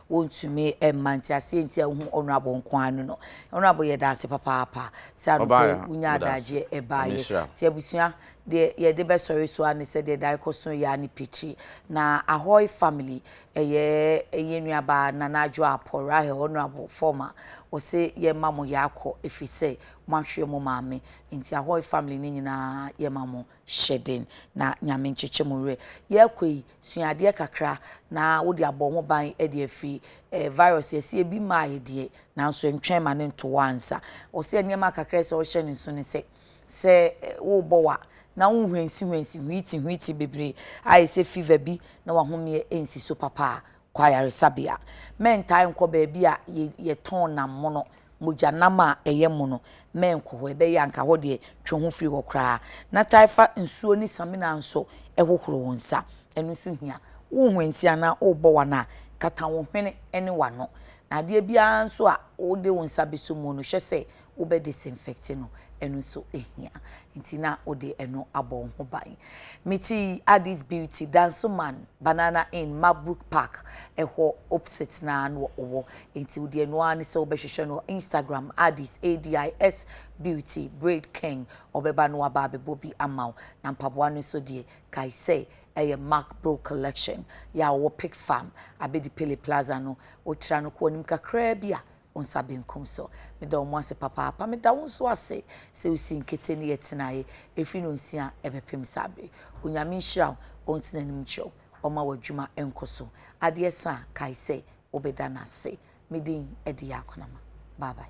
Wɔntumi mma nti aseɛ nti a wohu Honourable nko ara no no. Honourable yɛda ase papaapa sɛ anɔpa yi wonya adagyeɛ ɛbaeɛ. Nti abusua deɛ yɛde bɛsɔre so ara ne sɛ deɛ da rekɔ so yɛ ara ne pitiri. Na Ahoy family ɛyɛ yɛn nuabaa Nana Adwoa Apo Rahel Honourable former wɔse yɛmma mo yɛ akɔ ɛfiri sɛ moahwere mo maame. Nti Ahoy family no nyinaa yɛma mo. Hyɛ den na Nyame nkyekye mo werɛ. Yɛɛkɔ yi, sua adeɛ kakra na wode abɔ wo ho ban de afiri eh, virus yi ɛsɛ ebi maaeɛ deɛ, nanso ntwɛn ma no nto wo ansa. Ɔsɛ nneɛma kakra ɛsɛ wohyɛ no nso ne sɛ, sɛ worebɔ wa na wo nhwɛnsi hwɛnsi hwiiti hwiiti bebree a ɛsɛ fever bi na wahomeɛ ɛnsi so papa a, Kɔ ayaresabea. Mɛntaa nkɔ baabi a yɛtɔn nam mono, mogya nam a ɛyɛ mono. Mɛnkɔ hɔ. Ɛbɛyɛ a anka hɔ deɛ, twe wo ho firi hɔ koraa. Na taa fa nsuo ne samina nso hohoro wo nsa. Ɛno nso hia. Wohwɛnsi anaa wobɔ w'ano a, kata wo hwene ne w'ano. Na adeɛ biara nso a wode wo nsa bɛsɔ mu no, hwɛ sɛ wobɛ disinfect no ɛno nso hia nti na wode ɛno abɔ wo ho ban mete Addis Beauty Dansoman Banana Inn Mabrook Park ɛhɔ opposite na na wɔwɔ nti wode ɛno ara ne sɛ wobɛhwehwɛ no Instagram Addis ADIS Beauty Braid King ɔbɛba no aba abɛbɔ bi ama wo na mpaboa no nso deɛ kae sɛ ɛyɛ Mark Bro Collection yɛ a wɔwɔ Pick Farm abɛdi Pele Plaza no wotra no kɔ anim kakraa bi a wo nsa benkum so. Meda wɔn ase papaapa. Meda wo nso ase sɛ wosi nkete ne yɛ tenaeɛ ɛfiri nonsia ɛbɛpem saa bere. Onyame nhyira wo, ɔntene anim nkyerɛ wo, ɔma w'adwuma nkɔ so. Adeɛ sa a, kae sɛ wobɛda no ase. Me din de Yaa Konama. Bye bye.